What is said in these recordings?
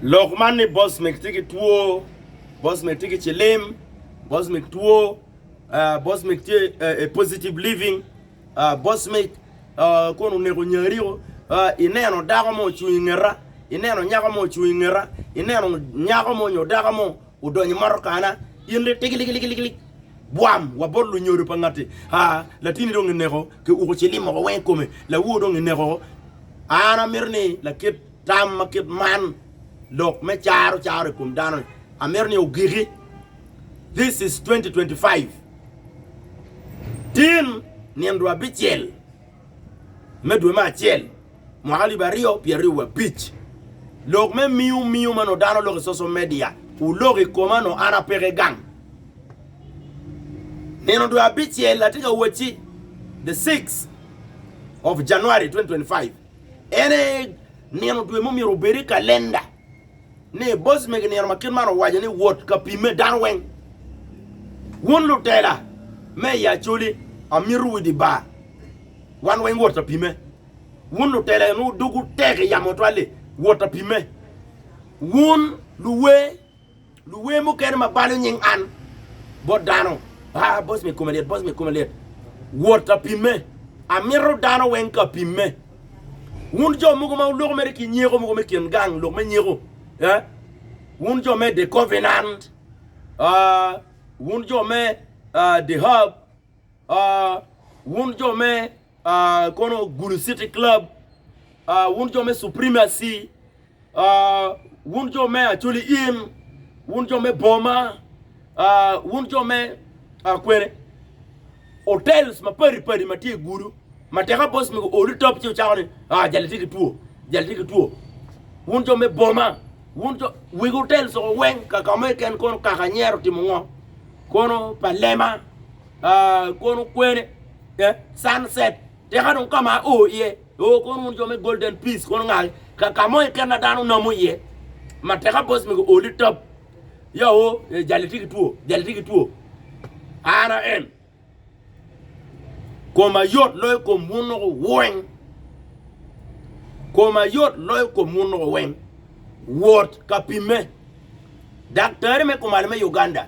Lok man ni Bosmik tye ki two, Bosmik tye ki cilim, Bosmik two, uh, Bosmik tye uh, a positive living, uh, Bosmik uh, kono oneko nyariko, uh, ineno dako mo ocung i ngeta, ineno nyako mo ocung i ngeta, ineno nyako mo nyo dako mo Odonyo motokana, in ri tigiligiligilig, bwam wa bot lunyodo pa ngati, aa, latini dong ineko, ki uko ci limo ko weng i kome, lawo dong ineko ko. An amito ni lakit tam ma kit man, lok me caro caro i kom dano-ni, amito ni ogiki. This is 2025. Tin nindo abicel. me dwe me acel mwaka alip aryo pye aryo wabic, lok me miu miu ma nongo dano loko i social media oloko i koma nongo an apeke gang. Nino dwe abicel atye ka wacci the six of January 2025 en aye nino dwe ma omyero obed i kalenda. ni boss mege nino ma kit man owaco ni wot ka pimme dano weng. Wun lutela me i Acholi amito wu di bar wan weng wot ka pimme. Wun lutela eno dugu tek i yamo twal li wot ka pimme. Wun luwer. Luwer mukene ma balo nying an bot dano, Ah, boss me kome lit, boss me kome lit. Wot ka pimme. Amito dano weng ka pimme. Wun jo mogo ma wuloko mere ki nyeko mogo me kin gang, lok me nyeko, eh? Wun jo me The Covenant, ah, wun jo me ah, The Hub, ah, wun jo me ah, kono Gulu City Club, ah, wun jo me Supremacy, ah, wun jo me Acholi Inn, wun jo me Boma, ah, wun jo me ah, kwene hotels mapadi padi ma tye i Gulu, ma teka boss mi olu top ci ocako ni, ah, jali tye ki two, jali tye ki two. Wun jo me Boma, wun jo wig hotels oko weng kaka mo eken kono kaka anyero timo ngo, kono pa lema, ah, kono kwene, the sun set, tika dong ka ma o iye, o kono wun jo me Golden Peace kono ngal ka ka mo iken na dano nomo iye ma tika boss me go oli top ya o eh, jali tye ki two, jali tye ki two. An a en koma yot loyo kom wun loko weng, koma yot loyo kom wun loko weng. Wot ka pimme. Daktari me kumalo me Uganda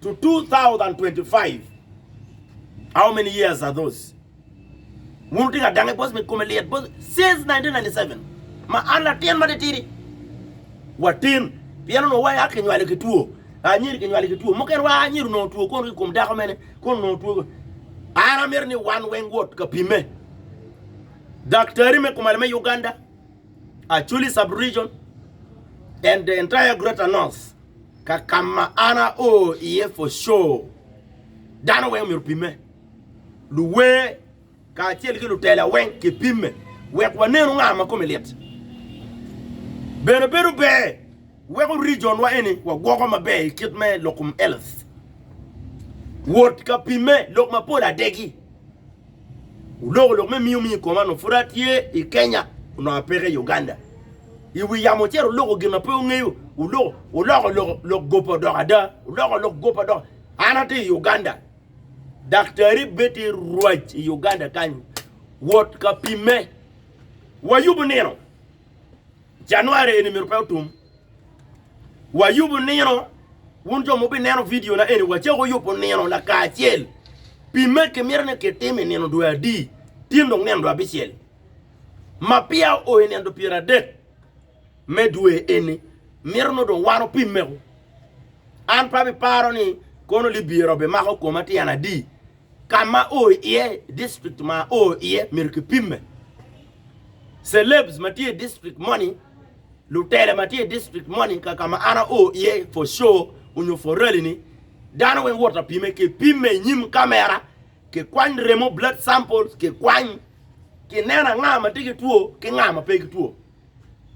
to 2025 how many years are those wun wutye ka dange bos me kome lyet bos since 1997 ma an latin ma titidi watin pien onongo waya kinywalo ki two anyiri kinywalo ki two mukene wa anyiri onongo two kono ki kom dako mene kono onongo two an amito ni wan weng wot ka pime daktari me kumalo me Uganda Acholi sub region and the entire greater north Ka kama an ao iye for sure dano weng omyero opime. Luwer kacel ki lutela weng ki pime wek wa nenu nga ma kome lit. Bene bedo ber weko region wa eni wa gwoko maber ikit me lokum health. Wot ka pime lok mapol adegi. Wuloko lok me miyo miyo i koma onongo pud atye i Kenya onongo apeke i Uganda. I wi yamo ocito wuloko gin ma pe wungeyo, wuloko wuloko lok lok gope odoko ada, wuloko lok gope odoko. An atye i Uganda, daktari bed tye rwac i Uganda kany wot ka pimme. Wayubo nino. January eni myero pe otum. Wayubo nino, wun jo ma wubineno vidiona eni, wacako yubo nino lakacel pi ma kimito ni kitim i nino dwe adi, tin dong nino dwe abicel ma peya oo i nino dwe pyeradek me dwe eni. Mito nongo dong wan wupimmego. An pe abiparo ni kono libira obimako koma tyen adi Ka ma o iye, District ma o iye myero kipimme. Celebs ma tye i district moni, lutele ma tye i district moni, ka ka ma an ao iye for show onyo for rally ni, dano weng wot apime, kipimme i nyim camera, kikwany remo, blood samples, kikwany, kineno anga ma tye ki two ki nga ma pe ki two.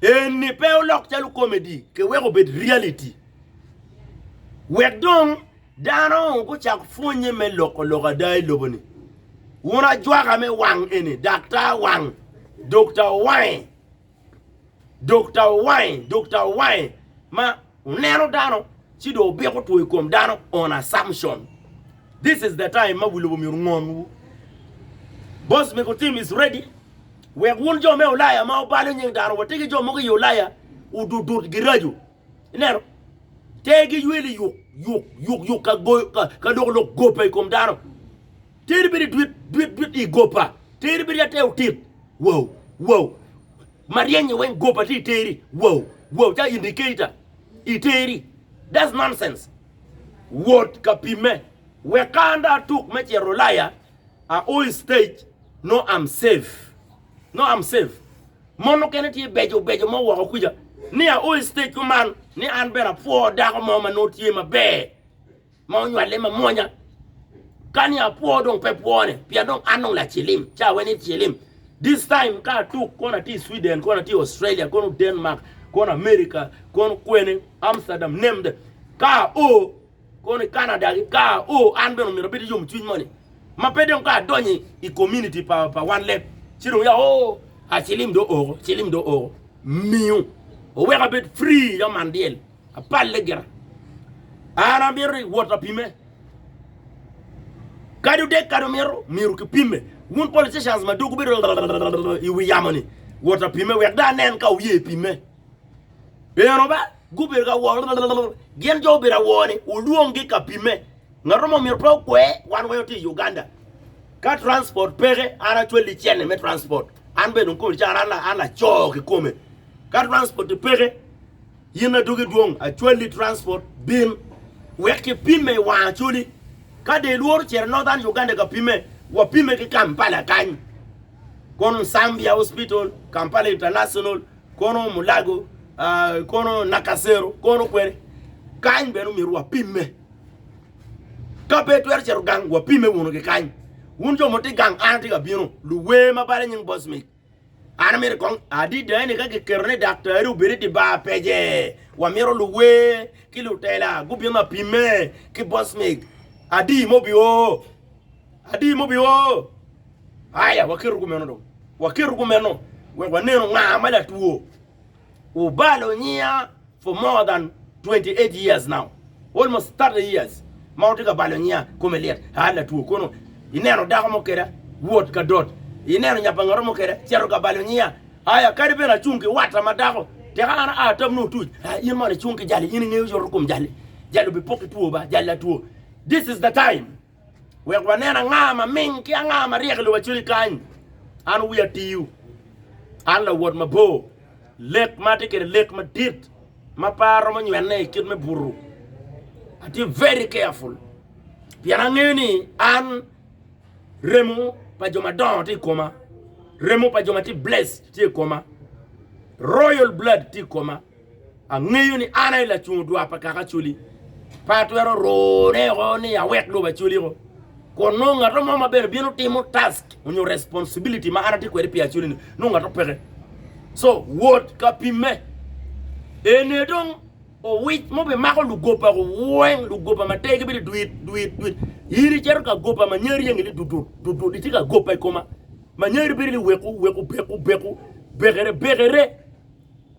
Eni pe olok calo comedy ke weko obed reality. Wek dong dano gucak pwonye me loko lok ada i lobo ni. Wun ajwaka me wang eni, daktar wang, Dokta Owange, Dokta Owange, Dokta Owange ma. oneno dano ci dong obiko two i kom dano on assumption. This is the time ma wi lobo myero ngon wu. Boss Mego team is ready wek wun jo me Ulaya ma obalo nying dano wa tegi jo mogo i Ulaya ududut girajo. Ineno? Tegi yweli yuk yuk yuk yuk ka go ka lok lok gope i kom dano. Teri bedo idwit dwit dwit i gopa, teri bedo ate otit. Wow, wow. Maryenye weng gopa tye i teri. Wow, wow. Ca indicator i teri. That's nonsense. Wot ka pimme. Weka an dong atuk me cito Ulaya, a o i stage, no I'm safe. No I'm safe. Mon mukene tye beco beco mo woko kuca, ni a o i stage kuman, ni an bene apwo dako mo ma nongo tye maber. ma onywale mamwonya. Kani apwo dong pe pwone pien dong an dong lacilim ca wen i cilim. This time ka atuk kono atye i Sweden, kono atye i Australia, kono Denmark, kono America, kono kwene Amsterdam, name them. Ka ao kono i Canada ki ka ao an bene omyero abed yom cwiny moni. Ma pe dong ka adonyo i community pa pa wan leb ci dong ya oo acilim do oko, cilim do oko. Miyo oweka abed free ya man dyel. Apalle gira. An amito ni wot apime. Kadi odek kadi omito, myero kipime. Wun politicians ma dok wubedo i wi yamo ni wot apime wek dong anen ka wuye pime. Eno ba gubedo ka wo gin jo obedo awor ni olwonggi ka pime. Ngato mo myero pe okwe wan weng watye i Uganda. Ka transport peke an acwali cene me transport. An bene dong kome caro an laco kikome. Ka transport peke In adwogi dwong acwali transport bin wek ki pimme i wang acwali ka dong ilworo cito northern Uganda ka pimme wa pimme ki Kampala kany kono Nsambia hospital Kampala international kono mulago kono Nakasero kono kwene kany bene omyero wa pimme ka pe itwero cito gang wa pimme wunu ki kany wun jo mo ti gang an ati ka bino luwer ma bala nying Bosmic. An amito kong adida ni ka kiketo ni daktari obed i dye bar pece, wamito luwer ki lutela gubin ma pimme ki bosmig. Adi ma obi oo? Adi ma obi oo? Aya, waketo kumeno dong. Waketo kumeno wek wanenu nga ma latwo. Wubalo nyiya. for more than twenty eight years now almost thirty years ma watye ka balo nyiya kome lyet aa latwo kono ineno dako mo keda wot ka dot ineno nyapangato mo keda cito ka balo nyiya aya kadi bene acung ki watta ma dako teka an aa tam nongo tuc aa in mono icung ki jali in ingeyo yoto kom jali jali obi pok ki two ba jali latwo this is the time Wek wanen anga ma ming ki anga ma ryek i lobo acwali kany. An wi atiyu. An lawot mabor. Lek ma atye kwede lek madit ma pe aromo nywene i kit me butu. Atye very careful pien angeyo ni an remo pa jo madongo tye i koma. Remo pa jo ma tye blessed tye i koma. Royal blood tye i koma. Angeyo ni an aye lacung odwa pa kaka Acholi. Pe atwero rune oko ni awek lobo Acholi oko, kun nongo ngat mo ma bene bino timo task onyo responsibility ma an atye kwede pi Acholi ni nongo ngat mo peke. So wot ka pimme. Ene dong owic mo bimako lugoba weng, lugoba ma tergi bedo dwit dwit dwit. In icito ka goba ma nyari engi ni dudut dudut itye ka goba i koma. Ma nyari bedo ni weku weku beku beku bekere bekere.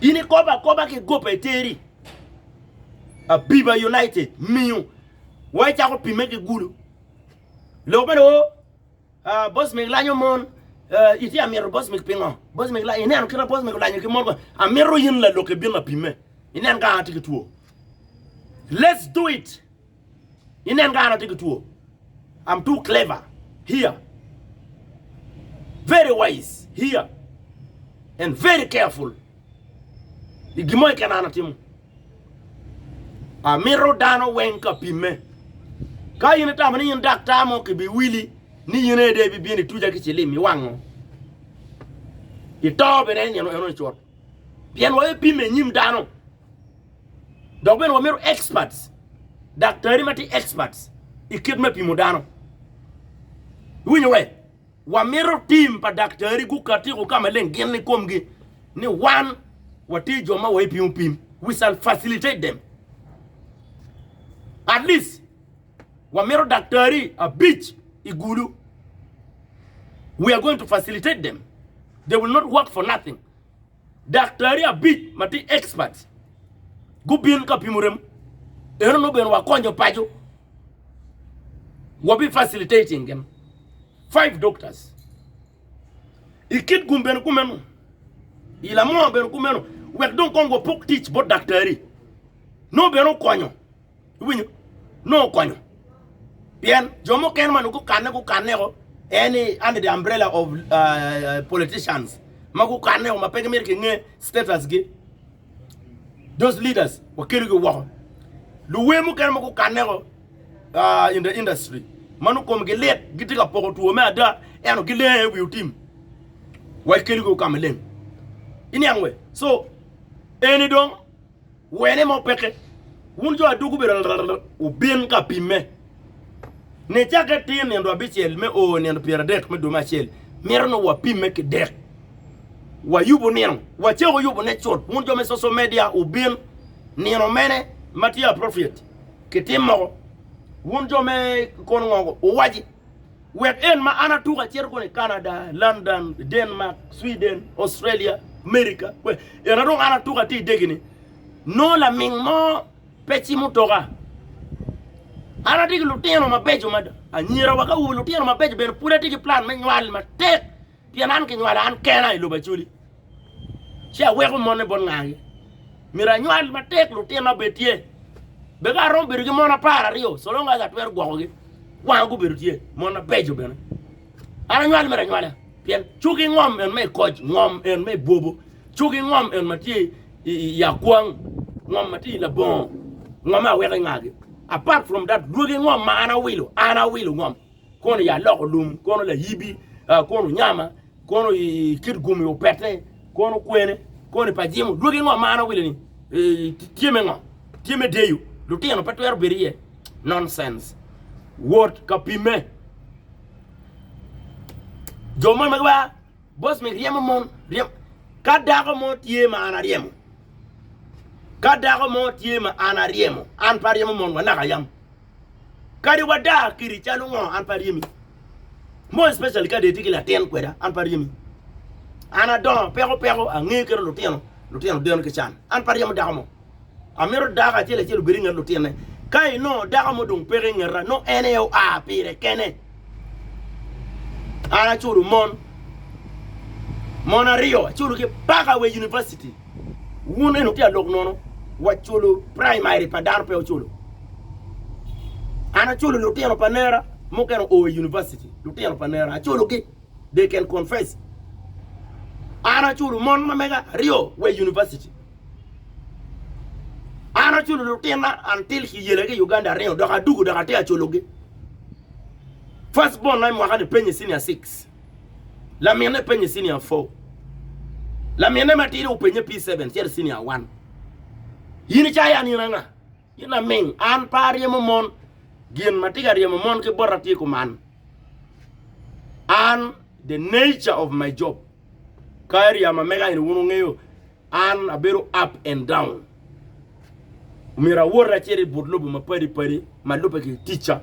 In ikobo akoba ki goba iteri. Abiba United miyo wa icako pimme ki gulu. Lok meno o ah, boss meg lanyo mon ah, itye amito boss meg pingo? Boss meg lanyo ineno kit ma boss meg olanyo ki mon ko. Amito in lalokke bin apimme. Inen ka an atye ki two. Let's do it. Inen ka an atye ki two. I'm too clever here, very wise here and very careful i gin mo keken an atimo. Amito dano weng ka pimme. Ka in itamo ni in daktar mo kibiwili ni in aye dong ibibino ituca ki cilim iwango. Ito bene en eno icot. Pien waye pime inyim dano. Dok bene wamito experts, daktari ma tye experts i kit me pimo dano. Iwinyo wee? Wamito tim pa daktari gukatiko ka maleng gin ni komgi ni wan watye jo ma waye pimo pim. We shall facilitate them. At least wamito daktari abic i gulu. We are going to facilitate them. They will not work for nothing. daktari abic ma tye experts gubin ka pimo remo. Eno nongo bene wakonyo paco. Wabi facilitating gin. Five doctors. I Kitgum bene kumeno. I Lamoo bene kumeno. Wek dong kong wapok tic bot daktari. Nongo bene okonyo. iwinyo nongo okonyo pien jo mukene ma nongo gukanne gukanneko en ni under the umbrella of uh, politicians ma gukanneko ma pe gimito kinge statusgi those leaders wakelogi woko luwer mukene ma gukanneko uh, in the industry ma nongo komgi lit gitye ka poko two me ada eno gilenge wi otim wakelogi okama leng iniang we so eni dong wene mo peke. Wun jo adwogi bedo rrrr, wubin ka pimme. Nicakke tir nino abicel me oo nino pyeradek me dwe me acel, mito ni wapimme ki dek. Wayubo nino, wacako yubone cut. Wun jo me social media wubin nino mene ma tye appropriate kitim moko. Wun jo me kono ngo, wuwaci. Wek en ma an atuko acito kono i Canada, London, Denmark, Sweden, Australia, America, kwe, en adong an atuko ati i degi-ni, nongo laming mo pe cimo toka. An ati ki lutino mabeco mada, anyira wa ki awobe lutino mabeco bene pud ati ki plan me nywal matek. Pien an kinywalo an kena i lobo Acoli, ci aweko mone bot ngagi. Myero anywal matek lutina bed tye. Be ka aromo bedo ki mon apar aryo, so long as atwero gwokogi, kwanga gubedo tye, mon mabeco bene. An anywal mere anywala, pien cuki ngom en me i koc, ngom en me i bwobo, cuki ngom en ma tye i, i, i akwang, ngom ma tye i labongo, ngomme aweko i ngagi. Apart from that, dwogi ngom ma an awilo, an awilo ngom. Kono i aloko lum, kono layibi, kono nyama, kono i kit gum i opete, kono kwene, kono i pajimo. Dwogi ngo mano wile ni? Tye me ngo? Tye me deyo? Lutino pe twero bedo iye? Nonsense. Wot ka pimme. Jo mon magi wa, boss mi ryemo mon, ryemo. Ka dako mo tye ma an aryemo, ka dako mo tye ma an aryemo, an pe aryemo mon wa naka yam. Kadi wada kidi calo ngo an pe aryemi. More especially kadi itye ki latin kweda an pe aryemi. An adongo peko peko angeyo kit lutino, lutino deno ki can. An pe aryemo dako mo. Amito dako acel acel obed inget lutinne. Ka inongo dako mo dong peke ingeta nongo en aye oa pire kene. An aculo mon, mon aryo aculo ki paka wa i univaciti. Wun eni wutye ka lok nono wa culo praimari pa dano pe wuculo. An aculo lutino pa nera mukene oo i univaciti, lutino pa nera aculogi, they can confess. An aculo mon ma mega aryo wa i univaciti. An aculo lutinna an till ki yelagi i Uganda aryo dok adugo dok atye ka culogi. First born na i mwaka ni penye senior six, laminne penye senior four, laminne matidi openye P seven cito i senior one. In icayo an in anga? In laming, an pe aryemo mon, gin ma tye ka ryemo mon ki bota tye kuman. An the nature of my job, ka area ma mega eni wun wungeyo, an abedo up and down. Omyero awot acito i but lobo mapadi padi ma lubbe ki ticca.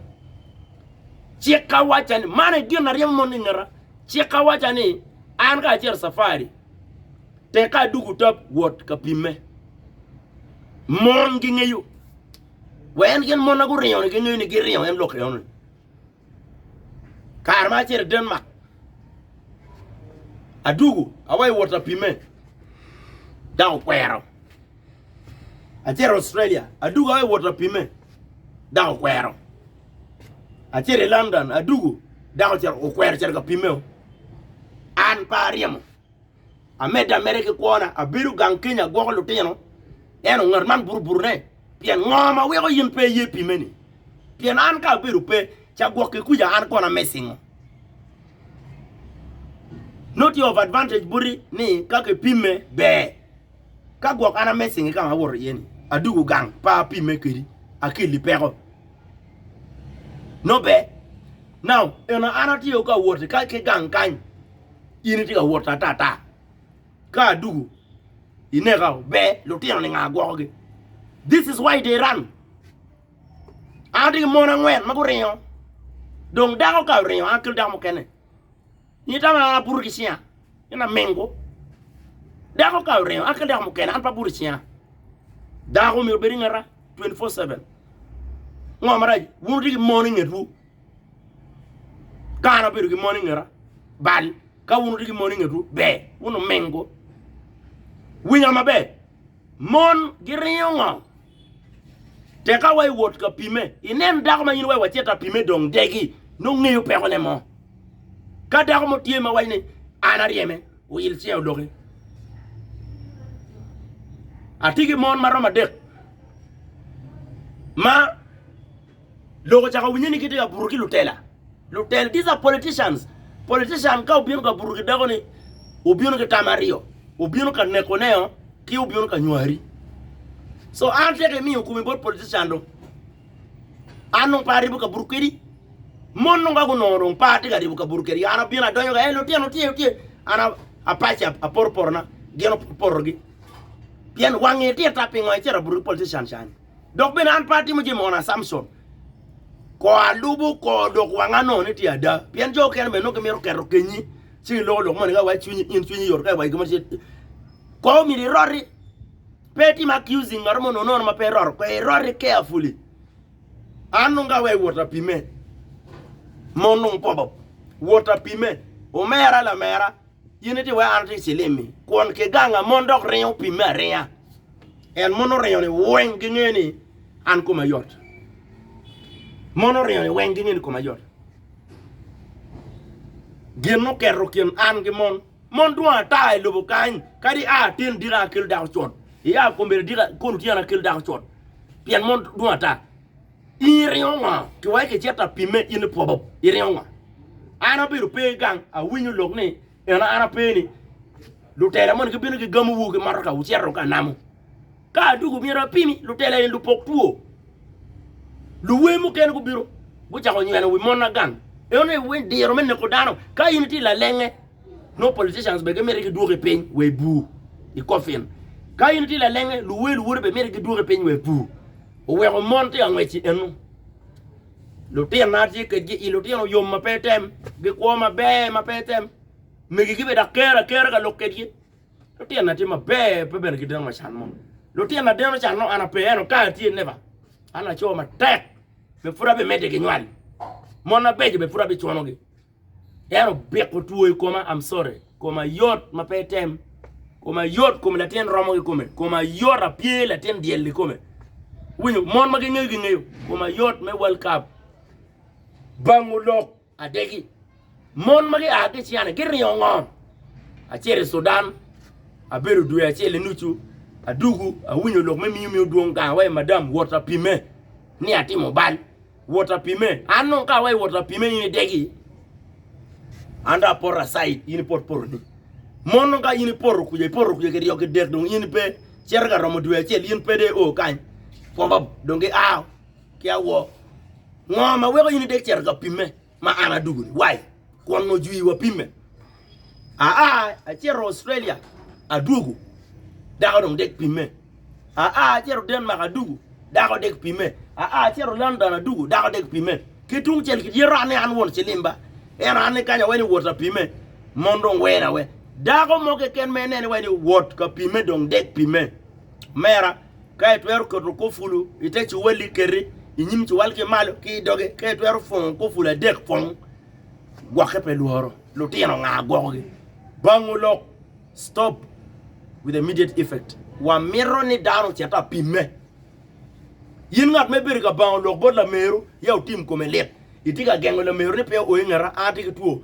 Cikka wacca ni, man e gin aryemo mon i ngeta, cikka wacca ni an ka acito safari, tek ka aduku tap wot ka pimme. Mon gingeyo, wa en gin mon na guringo ni gingeyo ni giringo en lok enoni. Kare ma acito i Denmark, adwogo awaco wot apimme dok okwero. Acito Australia, adwogo awaco wot apimme dok okwero. Acito i London, adwogo dako ocito okwero ocito ka pimmeo. An pe aryemo, amedde ameda ki kwona, abedo gang Kenya agwoko lutino, ento ngat man buruburu ne. Pien ngo ma weko in pe iye pi meni? Pien an ka abedo pe, ca gwokke kuca an kono amesingo. Not tye of advantage buti ni ka kipimme ber. Ka gwok an amesingi ka ma awoto iye ni, adugu gang pa apimme kedi, akelli peko. No ber. Now, eno an atye ka woti ka ki gang kany, in itye ka woti ata ata. ka adugu ineka o ber lutino ni nga gwoko gi this is why they run an atye ki mon angwen ma guringo dong dako ka oringo an akel dako mukene in itamo ni an abuto ki cinga in amingu dako ka oringo an akel dako mukene an pe abuto i cinga dako myero obed i ngeta 24/7 ngo marac wun wutye ki mon i ngetwu ka an abedo ki mon i ngeta bal. Ka wun wutye ki mon i ngetwu, ber wun wuminggu. Winyo maber, mon giringo ngo? Tek ka wa iwot ka pime, inen dako ma in iwaco wacit ta pime dong degi, nongo ngeyo pekone mo. Ka dako mo tye ma waco ni an aryeme, oyil cinge odoki. Atye ki mon ma romo adek ma Lok ocako winye ni gitye ka buto ki lutela. Lutela, these are politicians. Politician ka obino ka buto ki dako ni obino ki tam aryo. Obino ka neko neo ki obino ka nywari. So an tek imiyo kumi bot politician do. An nung pa aribo ka buto kedi. Mon nung ka gunongo dong pa atye ka ribo ka buto kedi. An abino adonyo ka, eh lutino tye, tye. An apaci aporo porona, gin oporo porogi. Pien wangi tit ta pingo icito abuto ki politician cani. Dok bene an pe atimo jami mono a Samson, kor alubo kor dok wanga nongo ni tye ada, pien jo okene bene nongo gimito keto kenyi, ci giloko lok moni ka iwaco cwinyi, in cwinyi yot ka iwaco gin mo ci kor omyero iroti, pe itim accusing ngat mo nonono ma pe iroto kwede, iroti carefully. An nongo ka aweyo wot apime, mon nongo pop pop, wot apime, omera lamera, In iti weko an ati i cilim-mi, kwon ki ganga mon dok ringo pimme aringa. En mon oringo-ni weng gingeyo ni an koma yot. Mon oringo-ni weng gingeyo ni koma yot. Gin muketo kin an ki mon. Mon dwong ata i lobo kany, kadi a atin dika akelo dako cot. Ia kombeddi dika kun tyen akelo dako cot. Pien mon dwong ata. In iringo ngo? Kiweko icito apime in ipwobo iringo ngo? An abedo pe gang awinyo lok ni eno an ape ni lutela moni gibino gi gamo wu ki motoka wucito ka namo. Ka adugu myero apimi lutela eni lupok two. Luwe mukene gubino gucako nyweno wi mona gang. Eno ni wen diro me neko dano ka in iti lalenge no politicians be gimiti gidwoki piny we ibur i coffin. Ka in iti lalenge luwe luwode be miti gidwoki piny we ibur. Oweko mon tye ka ngwec i eno. Lutinna atye kedgi i lutino yom ma pe tem, gikwo maber ma pe tem. Megigi bene dok kero akera ka lok kedgi. Lutinna tye maber pe bene gideno ma can mo. Lutinna deno can mo an ape eno kare tye never. An laco matek be pud abimedde ginywal. Mon mabeco be pud abiconogi. En obiko two i koma I'm sorry koma yot ma pe item koma yot kom latin romo ki kome koma yot apye latin dyel i kome winyo mon ma gingeyo gingeyo koma yot me World Cup bango lok adegi mon ma gia ki ciane giringo ngom acel i Sudan abedo dwe acel inucu adugu awinyo lok me miyo miyo dwong gang wa madam wot apime ni atimo bal wot apime. An nong ka awa i wot apime in idegi, an dong apoto asaid in ipot potoni. Mon nong ka in ipoto kuja ipoto kuja kiryo kidek dong in pe cito ka romo dwe acel in pe de o kany pop dong giao ki awo. Ngo ma weko in idek cito ka pimme? ma an adugoni wai kwon ojwi wa pimme aa acito Australia adugu dako dong dek pimme aa acito Denmark adugu dako dek pimme aa acito London adugu dako dek pimme ki tung cel ki dyero anne an won cilimba eno anne kanya wai ni wot apimme mon dong wena we dako mo keken ma inene wai ni wot ka pimme dong dek pimme mera Ka itwero keto kopulu i te cuwalli, kete i nyim cuwal ki malo ki i doge. Ka itwero pwongo kopulu adek, pwong. Gwokke pe lworo. Lutino nga gwokogi? Bangu lok, Stop with immediate effect. Wamito ni dano ocit apimme. In ngat ma ibedo ka bango lok bot lameru, ya otim kome lit. Itye ka gengo lameru ni pe o i ngeta, an atye ki two,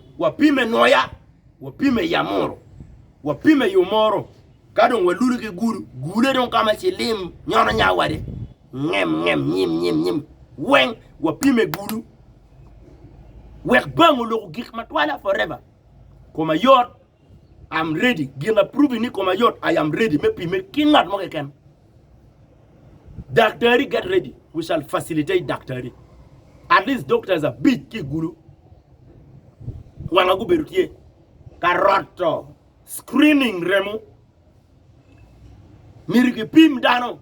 wapime noya, wapime i amuru, wapime i omoro, ka dong walule ki gulu, gule dong ka ma cilim nyono nya wade, ngem ngem, nyim nyim nyim, weng wapime gulu. Wek bang oloko gik matwala forever. Koma yot. I'm ready. Gin a provi ni koma yot, I am ready me pime ki ngat mo keken. Daktari get ready. We shall facilitate daktari. At least doctors abic ki gulu. Wanga gubedo tye ka roto screening remo. Myero kipim dano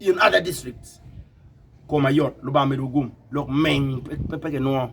In other district koma yot lubanga medo gum lok meng pe kinwo.